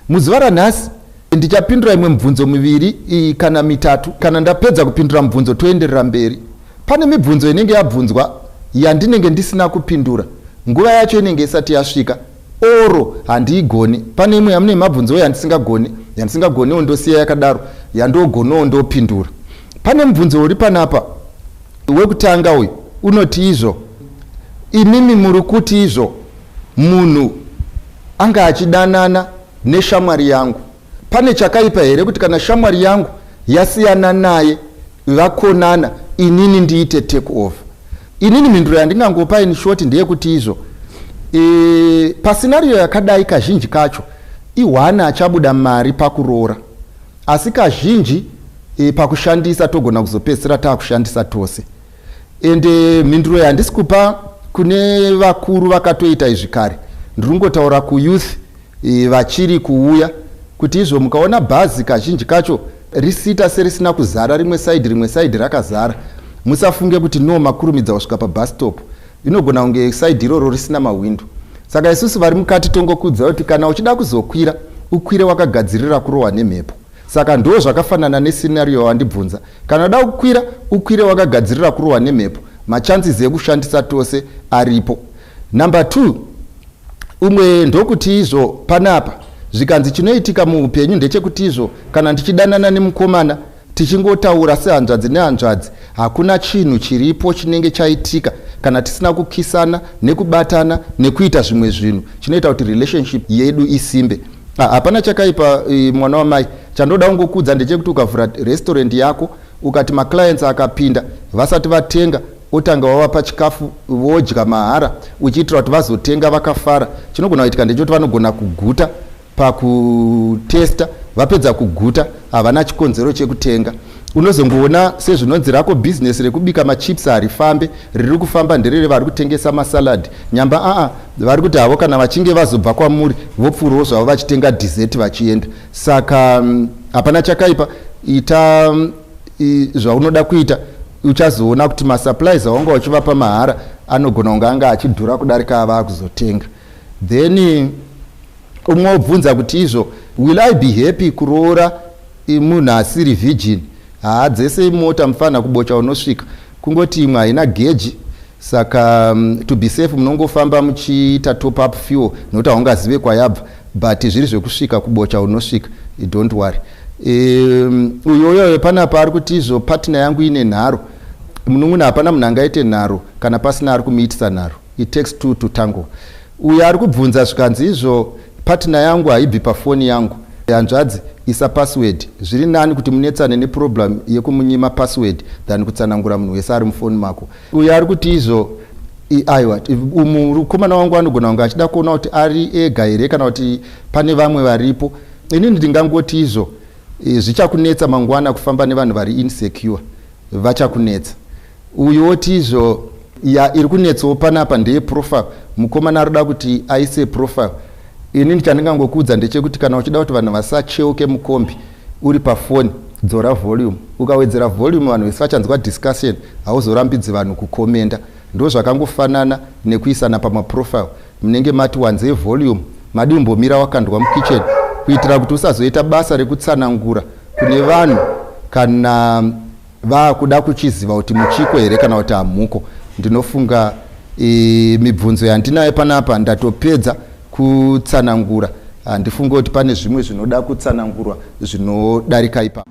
Muzuva ranhasi ndichapindura imwe mibvunzo miviri kana mitatu. Kana ndapedza kupindura mibvunzo toenderera mberi. Pane mibvunzo inenge yabvunzwa yandinenge ndisina kupindura, nguva yacho inenge isati yasvika oro handiigoni. Pane imwe yamune mabvunzowo yandisingagoni, yandisingagoniwo ndosiya yakadaro, yandogonowo ndopindura. Pane mubvunzo uri panapa wekutanga uyu unoti izvo, imimi muri kuti izvo. Munhu anga achidanana neshamwari yangu. Pane chakaipa here kuti kana shamwari yangu yasiyana naye vakonana inini ndiite take over? Inini mhinduro yandingangopa in short ndeyekuti izvo e, pasinariyo yakadai kazhinji kacho ihwani achabuda mari pakuroora asi kazhinji e, pakushandisa togona kuzopedzisira taakushandisa tose ende mhinduro yandisi kupa kune vakuru vakatoita izvi kare ndiri kungotaura kuyouth e, vachiri kuuya kuti izvo mukaona bhazi kazhinji kacho risita serisina kuzara rimwe saidi rimwe saidi rakazara musafunge kuti no makurumidza kusvika pabhastop inogona kunge saidi iroro risina mahwindo saka isusu vari mukati tongokudza kuti kana uchida kuzokwira ukwire wakagadzirira kurohwa nemhepo Saka ndoo zvakafanana ne scenario yawandibvunza. Kana uda kukwira, ukwire wakagadzirira kurohwa nemhepo. Ma chances ekushandisa tose aripo. Number two, umwe ndokuti izvo panapa zvikanzi chinoitika muupenyu ndechekuti izvo kana ndichidanana nemukomana tichingotaura sehanzvadzi nehanzvadzi hakuna chinhu chiripo chinenge chaitika kana tisina kukisana nekubatana nekuita zvimwe zvinhu chinoita kuti relationship yedu isimbe Ah, hapana chakaipa eh, mwana wamai chandoda kungokudza ndechekuti ukavhura restaurant yako ukati maclients akapinda vasati vatenga otanga wavapa chikafu vodya mahara uchiitira kuti vazotenga vakafara chinogona kuitika ndechekuti vanogona kuguta pakutesta vapedza kuguta havana chikonzero chekutenga Unozongoona sezvinonzi rako business rekubika machips harifambe, riri kufamba ndererevari kutengesa masalad. Nyamba aa vari kuti havo kana vachinge vazobva kwamuri vopfuurawo zvavo vachitenga dessert vachienda. Saka mm, hapana chakaipa, ita mm, i, zvaunoda kuita uchazoona kuti masupplies awanga uchivapa mahara anogona kunge anga achidhura kudarika avaa kuzotenga then umwe obvunza kuti izvo will i be happy kuroora munhu asiri virgin haa dzese imota mufana kubocha unosvika kungoti imwe haina geji saka mm, to be safe munongofamba muchiita top up fuel nokuti haungazive kwayabva but zviri zvekusvika kubocha unosvika don't worry um, uyo uyoyo panapa ari kuti izvo partner yangu ine nharo munun'una hapana munhu angaite nharo kana pasina ari kumuitisa nharo it takes two to tango Uyu ari kubvunza zvikanzi izvo partner yangu haibvi pafoni yangu. Hanzvadzi isa password. Zviri nani kuti munetsane neproblem yekumunyima password than kutsanangura munhu wese ari mufoni mako. Uyu ari kuti izvo aiwa mukomana wangu anogona kunge achida kuona kuti ari ega here kana kuti pane vamwe varipo inini ndingangoti izvo e, zvichakunetsa mangwana kufamba nevanhu vari insecure vachakunetsa uyu woti izvo ya iri kunetsawo panapa ndeye profile mukomana ari kuda kuti aise profile inini chandingangokuudza ndechekuti kana uchida kuti vanhu vasacheuke mukombi uri pafoni dzora volume ukawedzera volume vanhu vese vachanzwa discussion hauzorambidzi vanhu kukomenda ndozvakangofanana nekuisana pamaprofile Munenge mati wanzei volume, madii umbomira wakandwa mukitchen kuitira kuti usazoita basa rekutsanangura kune vanhu kana vakuda kuchiziva kuti muchiko here kana kuti hamuko. Ndinofunga e, mibvunzo yandinayo panapa ndatopedza kutsanangura. Handifunge kuti pane zvimwe zvinoda kutsanangurwa zvinodarika ipapo.